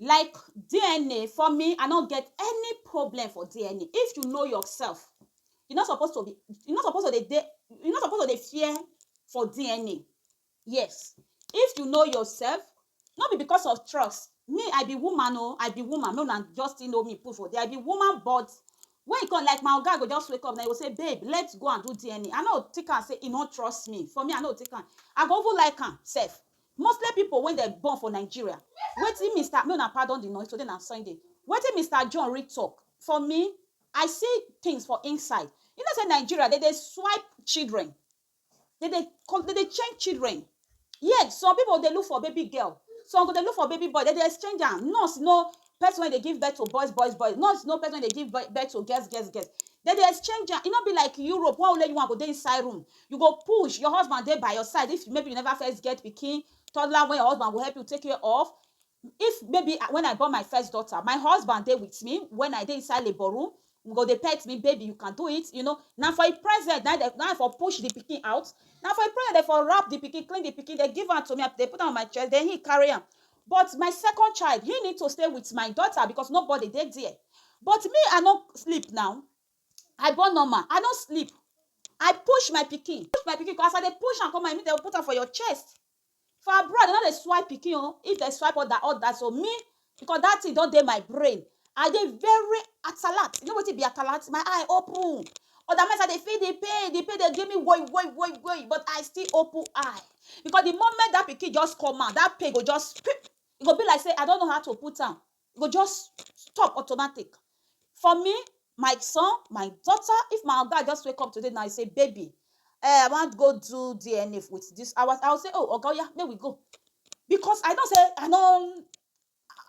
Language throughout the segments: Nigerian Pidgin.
Like DNA for me I no get any problem for DNA if you know yourself you no suppose to be you no suppose to dey dey you no suppose to dey fear for DNA yes if you know yourself no be because of trust me I be woman oo I be woman make una just still know me put for there I be woman but when e come like my oga go just wake up na e go say babe let's go and do DNA I no go take am say e no trust me for me I no go take am I go even like am sef Mostly pipo wey dem born for Nigeria. Wetin Mister Make una pardon di noise, today na Sunday. Wetin Mister John read tok, For me, I see tins for inside. You know say Nigeria, dem dey swipe children. Dem dey con, dem dey change children. Yes, some pipo dey look for baby girl, some go dey look for baby boy, dem dey exchange am. Nurse no, person wey dey give birth to boys boys boys no no person wey dey give birth to girls girls girls dem dey exchange am e no be like Europe wey only you one go dey inside room you go push your husband dey by your side if maybe you never first get pikin toddler wey your husband go help you take care of if maybe when I born my first daughter my husband dey with me when I dey inside labour room he go dey pet me baby you can do it you know na for him presence na him I for push the pikin out na for him presence dem for wrap the pikin clean the pikin dem give am to me I put am on my chest then him carry am But my second child, he need to stay with my daughter because nobody dey there. But me I no sleep now, I born normal, I no sleep, I push my pikin, push my pikin come, as I dey push am come, I mean dem go put am for your chest. For abroad, dem no dey swipe pikin o, if dem swipe oda odas o, me because dat tin don dey my brain, I dey very atalat. You know wetin be atalat? My eye open. Other times I dey feel the pain, the pain dey give me woi woi woi woi, but I still open eye because the moment that pikin just come out, that pain go just pip, e go be like say I don't know how to put am, e go just stop automatic. For me, my son, my daughter, if my oga just wake up today now say, baby, I wan go do DNA with this, I will say, oh, oga, oya, make we go because I know say I no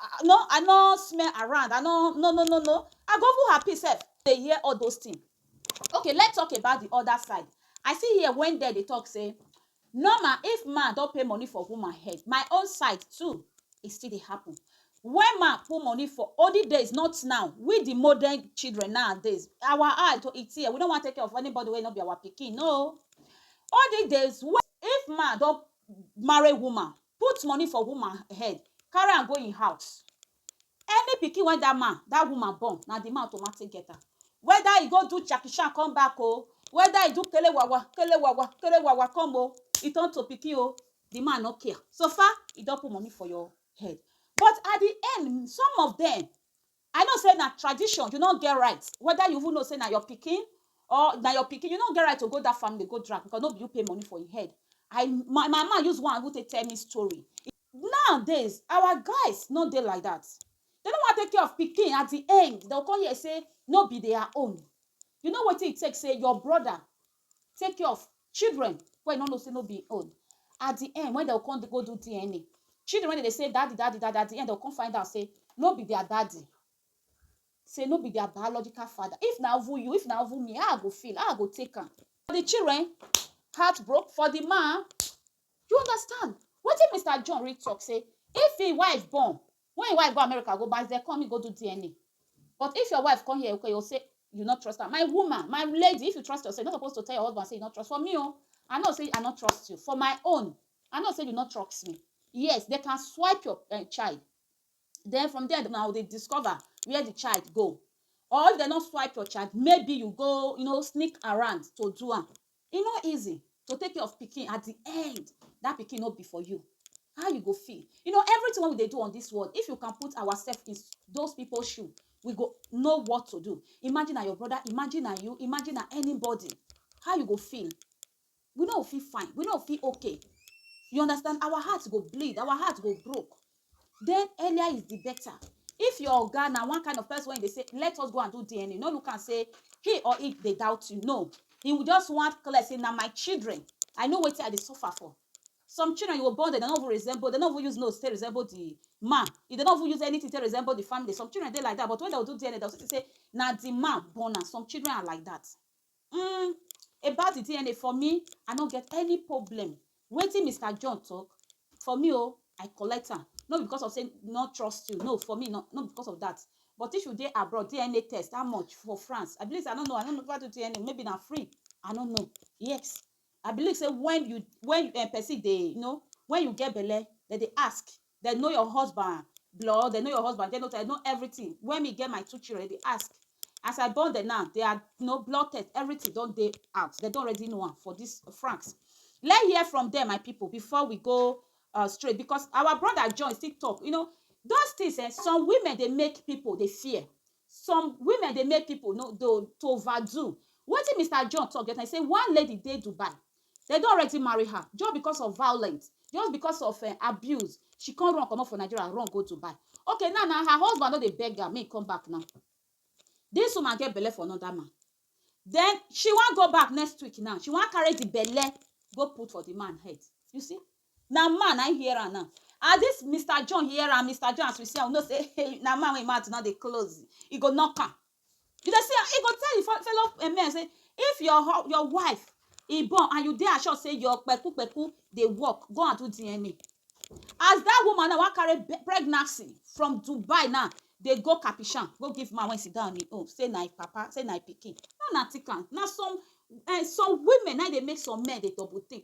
I no I no smell around I no no no no no I go even happy sef dey hear all those thing okay let talk about the other side I see here when dem dey talk say normal if man don pay money for woman head my own side too e still dey happen when man put money for olden days not now we the modern children nowadays our eye to e tear we no wan take care of anybody wey no be our pikin no olden days if man don marry woman put money for woman head carry am go im house any pikin wey that man that woman born na the man automatic get am whether e go do Jackie Chan come back o whether e do kelewawa kelewawa kelewawa come o e turn to pikin o the man no care so far e don put money for your head but at the end some of them I know say na tradition, you no get right whether you even know say na your pikin or na your pikin, you no get right to go that family go drag because no be you pay money for im head. I my mama use one even take tell me story. Nowadays, our guys no dey like that. Dem no wan take care of pikin, at the end, dem go come hear say no be their own. You know wetin e take say your brother take care of children wey you no know say no be im own. At di end, wen dem go come go do DNA, children wey dem dey say daddy, daddy, daddy, at di end dem go come find out say no be dia daddy, say no be dia biological father. If na even you, if na even me, how I go feel? How I go take am? For di children, heart broke, for di man, you understand? Wetin Mister John really talk say if im wife born, When your wife go America go baze come me go do DNA but if your wife come here okay o say you no trust am my woman my lady if you trust yourself you no suppose to tell your husband say you no trust for me o I know say I no trust you for my own I know say you no trust me yes they can swipe your uh, child then from there now they discover where the child go or if they no swipe your child maybe you go you know sneak around to do am E no easy to take care of pikin at di end dat pikin no be for you how you go feel you know everything wey we dey do on dis world if you can put ourselves in those people shoe we go know what to do imagine na your brother imagine na you imagine na anybody how you go feel we no fit fine we no fit okay you understand our heart go bleed our heart go broke then earlier is the better. If your oga na one kind of person wey dey say, let us go and do DNA, no look am say he or he dey doubt you. No, he will just want clear say na my children. I know wetin I dey suffer for. Some children you go born, they don't even resemble, they don't even use nose to resemble the man. They don't even use anything to resemble the family. Some children dey like that, but when they will do DNA, they will see say na the man born am. Some children are like that. Umm about the DNA for me I no get any problem wetin Mister John talk for me o I collect am no be because of say no trust you no for me no no because of that but if you dey abroad DNA test how much for France I believe say I no know I no know if I do DNA maybe na free I no know yes I believe sey wen you wen um person dey you know wen you get belle dem dey ask dem know your husband blood dem know your husband genotype dem know everything wen me get my two children dem dey ask as I born dem now their you know blood test everything don dey house dem don already know am for dis France let hear from dem my pipu before we go um straight because our brother John still talk you know those things um some women dey make pipu dey fear some women dey make people no to to overdo wetin Mister John talk that time he say one lady dey Dubai dem don already marry her just because of violence just because of uh, abuse she come run comot for Nigeria run go Dubai okay now na her husband no dey beg her make come back now this woman get belle for another man then she wan go back next week now she wan carry the belle go put for the man head you see na man na im hear am now as this Mister John hear am Mister John as we see am we know say hey na man wey im mouth no dey close e go knock am you dey see am e go tell im fo fellow um men say if your hu your wife e born and you dey assured say your kpeku kpeku dey work go and do DNA as that woman now wan carry be pregnancy from Dubai now dey go Kapishan go give man wey sit down on im own say na im papa say na im pikin no na thick am na some um some women na im dey make some men dey double think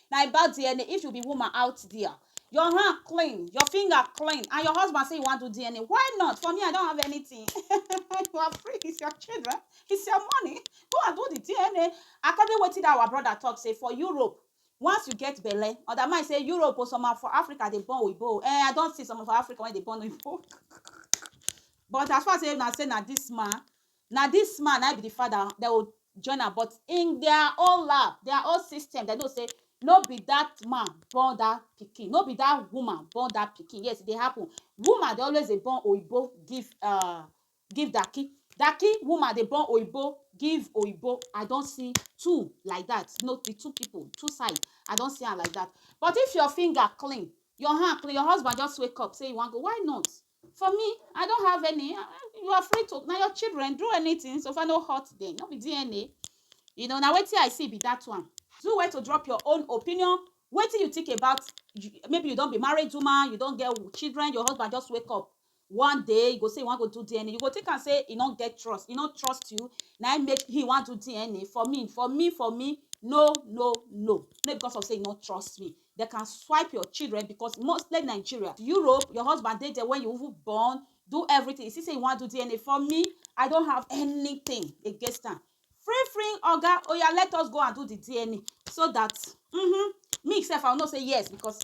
na about dna if you be woman out there your hand clean your finger clean and your husband say you wan do dna why not for me i don't have anything you are free it's your children it's your money go and do the dna according wetin that our brother talk say for europe once you get belle other man say europe or some for africa dey born oyibo eh i don see some for africa wey dey born oyibo but as far as say na say na this man Na this man na him be the father dem go join am but in their own lab their own system dem know say no be that man born that pikin no be that woman born that pikin yes e dey happen woman dey always dey born oyibo give um give daki daki woman dey born oyibo give oyibo I don see two like that no be two people two side I don see am like that but if your finger clean your hand clean your husband just wake up say he wan go why not For me, I don't have any. You are free to now your children do anything so far no hurt them. No be DNA. You know, now wait till I see be that one. Do where to drop your own opinion. Wait till you think about maybe you don't be married woman, you don't get children, your husband just wake up one day you go say you wan go do dna you go take am say e no get trust e no trust you na im make he wan do dna for me for me for me no no no no because of say e no trust me They can swipe your children because mostly Nigeria, Europe, your husband dey there when you even born, do everything. You see, say you want to do DNA for me, I don't have anything against am. Free, free, oga, oh yeah, let us go and do the DNA so that mm-hmm, me sef I will not say yes because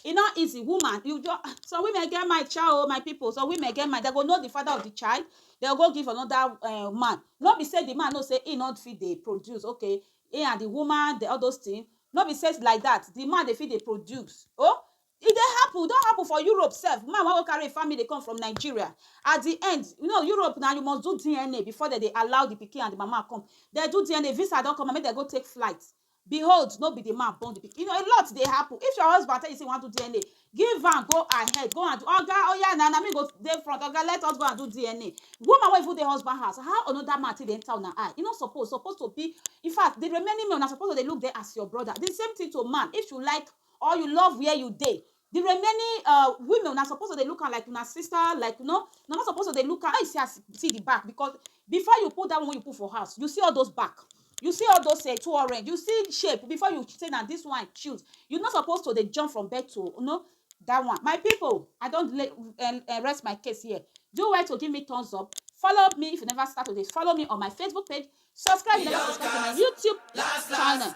e no easy woman you just some women get my child oh, my people some women get my they go know the father of the child they go give another uh, man no be say the man know say he not fit dey produce okay He and the woman the all those thing no be say like that the man dey fit dey produce oh e dey happen e don happen for Europe sef man wan go carry him family come from Nigeria at the end you know Europe na you must do DNA before dem dey allow the pikin and the mama come dem do DNA visa don come out make dem go take flight behold no be the man born the pikin you know a lot dey happen if your husband tell you say you wan do DNA Give am go ahead go and do oga oya na na me go dey front oga let us go and do DNA woman wey even dey husband house how another man take dey enter una eye e no suppose suppose to be in fact the remaining men una suppose to dey look them as your brother the same thing to man if you like or you love where you dey the remaining uh women una suppose to dey look am like una sister like you know una no suppose to dey look am how you see as see the back because Before you put that one wey you put for house, you see all those back, you see all those um two orange, you see shape before you say na this one I choose. You no suppose to dey jump from bed to you know that one. My people, I don lay um um rest my case here. Do well to give me thumbs up, follow me if you never start to dey follow me on my Facebook page, subscribe if you never subscribe to my YouTube channel.